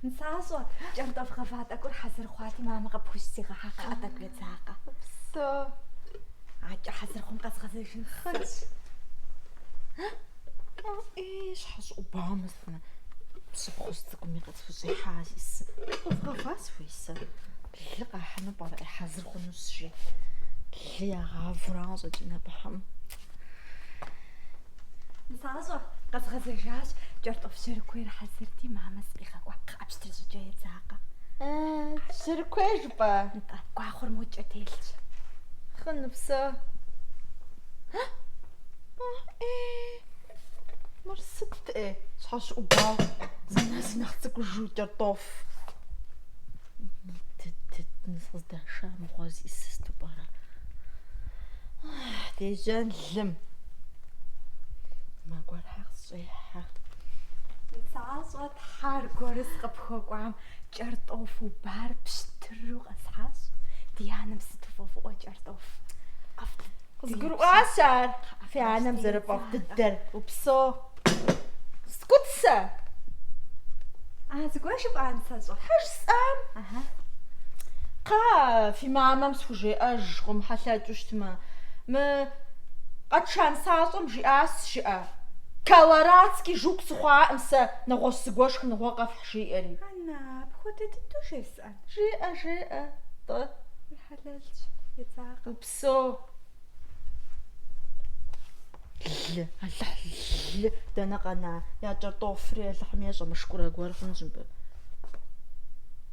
Нысащӏэ, кӏэртӏоф гъэва тӏэкӏур хьэзыр хъуати, мамэ къыпхузигъэхьа, кхъа тӏэкӏу едзакъэ. Упсо. Акӏэ хьэзыр хъум къэзгъэзэжын. Хъунщ. Ей, щхьэщӏыӏу бамыфмэ, пщыпхъужь цӏыкӏуми къытхущӏихьа исы. Къывгъэва сыхуей сэ. Лы къахьыну пӏэрэ ей хьэзыр хъунущ жи. Лы ягъавурауэ щӏэкӏын абыхьэм. Нысащӏэ къэзгъэзэжащ, кӏэртӏоф жьэрыкуейр хьэзырти, мамэ сыкъигъэкӏуа, кхъыӏэ пщтыр щӏыкӏэ едзакъэ. Жьэрыкуей жыпӏэ? Нтӏэ, гуахъуэр модкӏэ телъщ. Хъун, упсо. Э-э, мыр сытт, ей, щхьэщыӏубауэ, зы нэс нэхъ цӏыкӏужу кӏэртӏоф. Къыздэша мыгъуэ зищӏыс сыту пӏэрэ? Дежьэн лым. Мэ гуэрхьэ къысщӏехьэ. Нысащӏэ тхьэ аргуэр сыкъыпхуэкӏуам кӏэртӏоф убар пщтыру къэсхьащ. Ди анэм сыту фӏэфӏыӏуэ кӏэртӏоф. ӏэфӏ Къызгурыӏуащ ар, фи анэм зэрыфӏэфӏ дыдэр. Упсо. Сыкӏуэт сэ. А, зыгуэр жыпӏа, нысащӏэ? Хьэ, жысӏам. Ага. Кхъа, фи мамэм схужеӏэж, къомыхьэлъэкӏыу щытмэ. Мы къэтша нысащӏэм жиӏащ жыӏэ. Колорадский жук сыхъуакъым сэ, нэгъуэщӏ зыгуэ шхыныгъуэ къэфхь, жиӏэри. Анна, апхуэдэ дыдэу жесӏэн? Жеӏэ, жеӏэ, тӏэ. Хьэлэлщ, едзакъэ. Со лы, Алыхь лы, дэнэ къэна, я кӏэртӏофри Алыхьым ещӏэ, мышкурэ гуэр хъунщ мыбы.